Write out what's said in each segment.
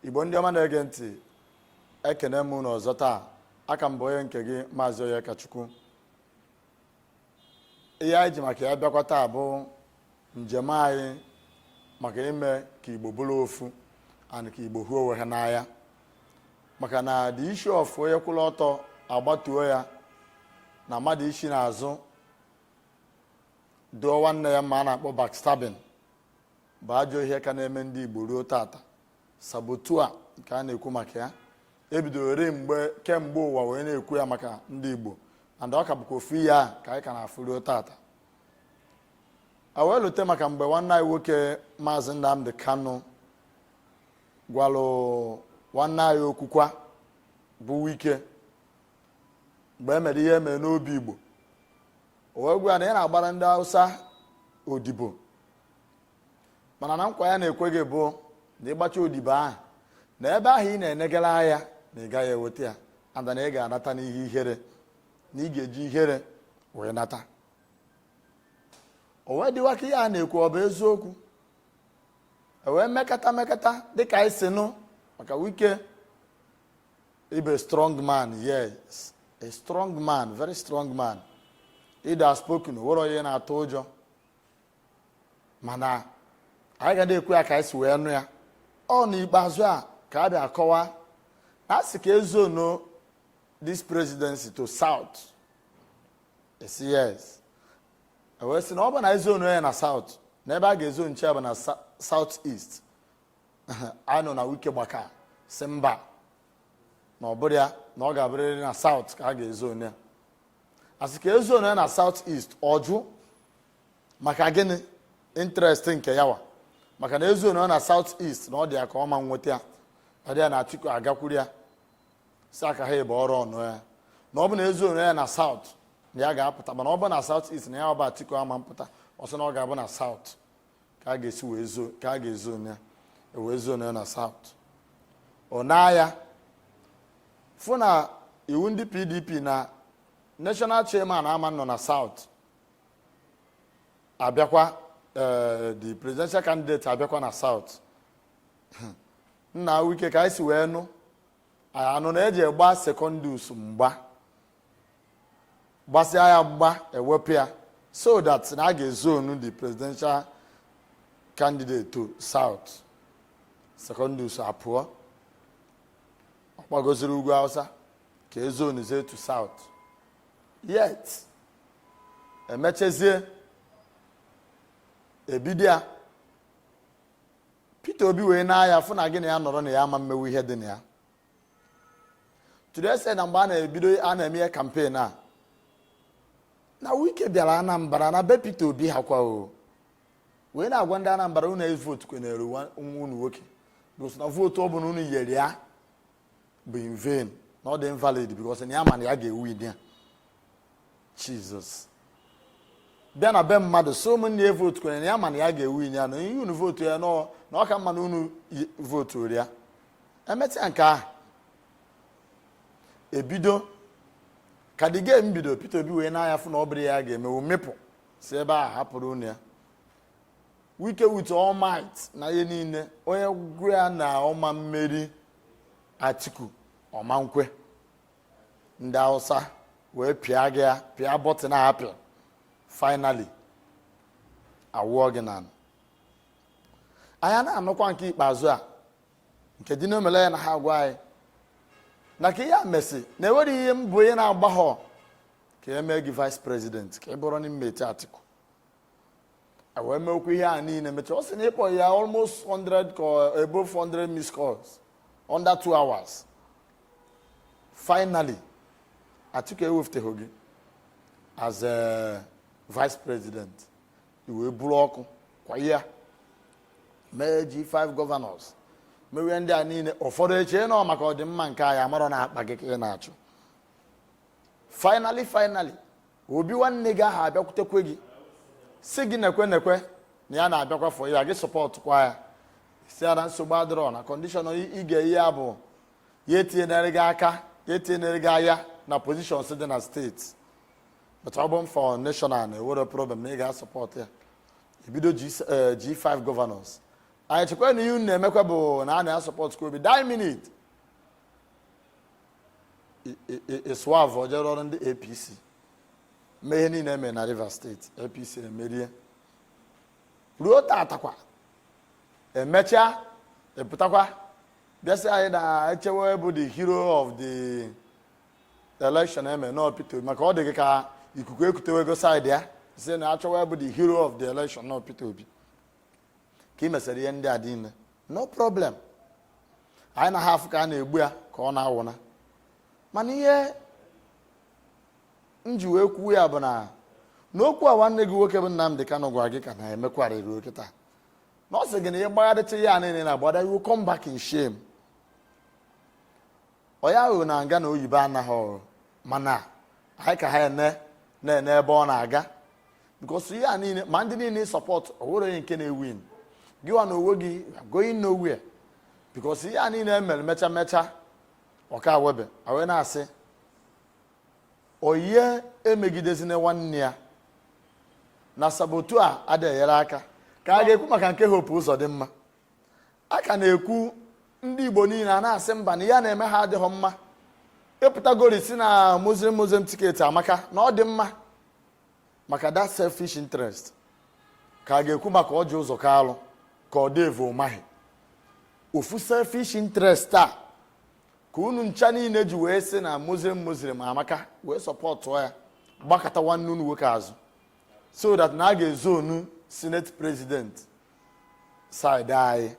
igbo ndị ọma na-ege ntị ekene m unu ọzọ taa a ka m bụ onye nke gị maazị Onyekachukwu ihe anyị ji maka ya bịakwa taa bụ njem anyị maka ime ka igbo bụrụ ofu and ka igbo hụ onwe ha n'anya maka na the issue of onye kwụrụ ọtọ a gbatuo ya na mmadụ isi n'azụ dụọ nwanne ya mma a na-akpọ backstabbing bụ ajọ ihe ka na-eme ndị Igbo ruo tata saboteur nke a na-ekwu maka ya e bidoro eri kemgbe ụwa wee na-ekwu ya maka ndị Igbo and ọ ka bụkwa ofu ihe a ka anyị ka na-afụ ruo tata a wee lute maka mgbe nwanne anyị nwoke maazị Nnamdi Kanu gwalụ nwanne anyị okwukwa bụ Wike mgbe e mere ihe e mere n'Obigbo o wee gwa ya na ị na-agbara ndị Hausa odibo mana na nkwa ya na-ekwe gị bụ na ị gbacha odibo ahụ na ebe ahụ ị na-enegara anya na ị gaghị eweta ya and na ị ga-anata n'ihe ihere na ị ga-eji ihere wee nata o wee dịwa ka ihe a na-ekwu ọ bụ eziokwu e wee mekata mekata dịka anyị si nụ maka wike ịbụ strong man yes a strong man very strong man ịdị outspoken nwero onye ọ na-atụ ụjọ mana anyị ga na-ekwu ya ka anyị si wee nụ ya ọ n'ikpeazụ a ka a bịa akọwa na a sị ka e zone-o this presidency to south a sị yes e wee sị na ọ bụ na e zone-o ya na south na ebe a ga-ezonecha ya bụ na south east anyị nụ na wike gbaka sị mba na ọ bụrọ ya na ọ ga-abụrịrị na south ka a ga-ezone ya a sị ka e zone-o ya na south east ọ jụ maka gịnị interest nke ya nwa maka na e zone-o ya na south east na ọ dị ya ka ọ ma nweta ya ọ dị ya na atiku agakwuru ya sị ya ka ha ebe ọrụ ọnụ ya na ọ bụ na e zone-o ya na south na ya ga-apụta mana ọ bụ na south east na ya nwa bụ atiku ama mpụta ọ sị na ọ ga-abụ na south ka a ga-esi wee zo ka a ga-ezone ya e wee zone-o ya na south o nee anya fụ na iwu ndị pdp na national chairman ama nọ na south abịakwa eh, the presidential candidate abịakwa na south na wike ka anyị si wee nụ anụ na e ji gba secondus mgba gbasịa ya mgba ewepụ ya so that na a ga-ezonu the presidential candidate to south secondus apụọ ọ gbagoziri ugwu hausa ka ezonuzie to south yet emechezie ebido ya peter obi wee nee anya fụ na gị na ya nọrọ na ya ama mmewu ihe dị na ya to the extent na mgbe a na-ebido a na-eme ihe kampen a na wike bịara anambra na be peter obi ha kwa o wee na-agwa ndị anambra unu evotukwanara nwa unu nwoke ọ sị na vootu ọ bụla unu nyere ya bụ in vain na ọ dị invalid because na ya ma na ya ga-ewin ya jizọs bịa na be mmadụ sị ụmụnne ya evotukwanara ya ma na ya ga-ewin ya na unu vootu ya na ọ ka mma na unu evoturọ ya emesịa nke ahụ ebido ka the game bido Peter Obi wee nee anya fụ na ọ bụrọ ihe ya ga-emewu mịpụ si ebe a hapụrụ unu ya wike with all might na ihe niile onye gwa ya na ọ ma mmeri Atiku ọ ma nkwe ndị Hausa wee pịa gị ya pịa bọtịn apịa finally awụọ gị na anya na-anụkwa nke ikpeazụ a nke Dino Melaye na-agwa anyị na ka ihe a mesị na enwerọ ihe mbọ ị na-agbaghọ ka e mee gị vice president ka ị bụrụ running mate Atiku wee mee okwu ihe a niile mechaa ọ sị na ị kpọ ya almost 100 call above 100 miss calls under 2 hours finally Atiku ewefụteghị gị as a vice president i wee buru ọkụ kwa ya mee G5 governors mewe ndị a niile ụfọdụ eche na ọ maka ọdịmma nke anyị amarọ na akpa gị ka ị na-achụ finally finally obi nwanne gị ahụ abịakwutekwe gị sị gị nekwe nekwe na ya na-abịakwa fọ ya gị sọpọtụkwa ya ị sị ya na nsogbu adịrọ na kọndishọn ị ga-enye ya bụ ya etinyere gị aka ya etinyere gị anya na pozishọns dị na steeti but ọ bụrụ fọ neshọnal na enwerọ problem na ị ga-asọpọtụ ya ebido G5 eh, gọvanọs anyị chekwa na ihe unu na-emekwa bụ na a na-asọpọtụkwa obi die minit ị swerve jee rụọrọ ndị apc mee ihe niile eme na rivers steeti apc emerie ruo tatakwa emechaa ị pụtakwa bịa sị anyị na-echewe bụ the hero of the election eme na ọ Peter Obi maka ọ dị gị ka ikuku ekutewego saịdị ya sị na achọwa bụ the hero of the election na ọ Peter Obi ka ị mesịrị ihe ndị a niile no problem anyị na ha afụ ka a na-egbu ya ka ọ na-awụna mana ihe m ji wee kwuo ya bụ na n'okwu a nwanne gị nwoke bụ Nnamdị Kanụ gwara gị ka na-emekwarịrị oke taa na ọ sị gị na ihe gbagharịcha ya niile na agbada you will come back in shame ọya aghụghọ na nga na oyibo anaghị ọrụ mana anyị ka ha na-ene ebe ọ na-aga because ihe a niile ma ndị niile sọpọtụ o nwere onye nke na-ewin gị wa na onwe gị going nowhere because ihe a niile e mere mecha mecha ọ ka webe awe na a sị onye emegidezina nwanne ya na saboteur adịghị enyere aka ka a ga-ekwu maka nke Hope Ụzọdịmma a ka na-ekwu ndị igbo niile a na-asị mba na ihe a na-eme ha adịghị mma ị pụtagori sị na muslim muslim tiketi amaka na ọ dị mma maka that selfish interest ka a ga-ekwu maka Ọjị Ụzọ Kalụ ka ọ Dave Umahi ofu selfish interest a ka unu ncha niile ji wee sị na muslim muslim amaka wee sọpọtụ ya gbakụta nwanne unu nwoke azụ so that na a ga-ezone unu senate president side anyị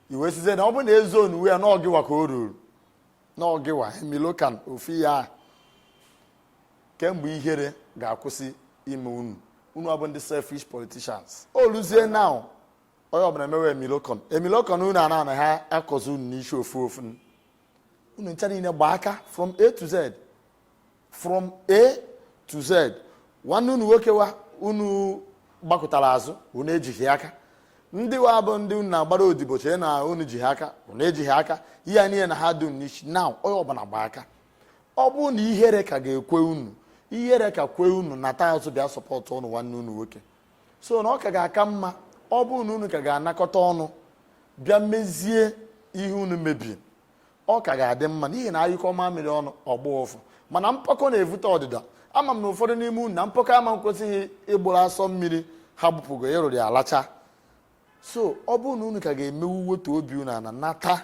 i wee sizie na ọ bụ na e zonewe ya na ọ gị wa ka o ruru na ọ gị wa emilokan ofu ya kee mgbe ihere ga-akwụsị ime unu unu abụ ndị selfish politicians o luzie now onye ọbụla emewe emilokan emilokan unu ana ana ha akọzi unu n'isi ofu ofu unu ncha niile gba aka from a to z from a to z nwanne unu nwoke wa unu gbakụtara azụ unu ejighị aka ndị wa bụ ndị unu na-agbara odibo chee na unu ji ha aka unu ejighị aka ihe a niile na ha dum n'isi now onye ọbụla gba aka ọ bụrụ na ihere ka ga-ekwe unu ihere ka kwe unu nata azụ bịa sọpọtụọnụ nwanne unu nwoke so na ọ ka ga-aka mma ọ bụrụ na unu ka ga-anakọta ọnụ bịa mezie ihe unu mebiri ọ ka ga-adị mma n'ihi na a nyụkọ mamịrị ọnụ ọ gbọọ ụfụfụ mana mpako na-evute ọdịda ama m na ụfọdụ n'ime unu na mpako ama ekwezi ha ịgbụrụ asọ mmiri ha gbupụgo ịrụrụ ya alacha so ọ bụrụ na unu ka ga-emewu wetu obi unu ana nata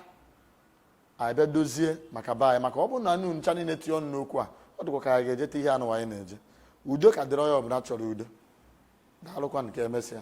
bịa dozie maka be anyị maka ọ bụrụ na anyị ncha niile tinye ọnụ n'okwu a ọ dịkwa ka anyị ga-ejeta ihe anụ anyị na-eje udo ka dịrị onye ọbụla chọrọ udo daalụkwanụ ka e mesịa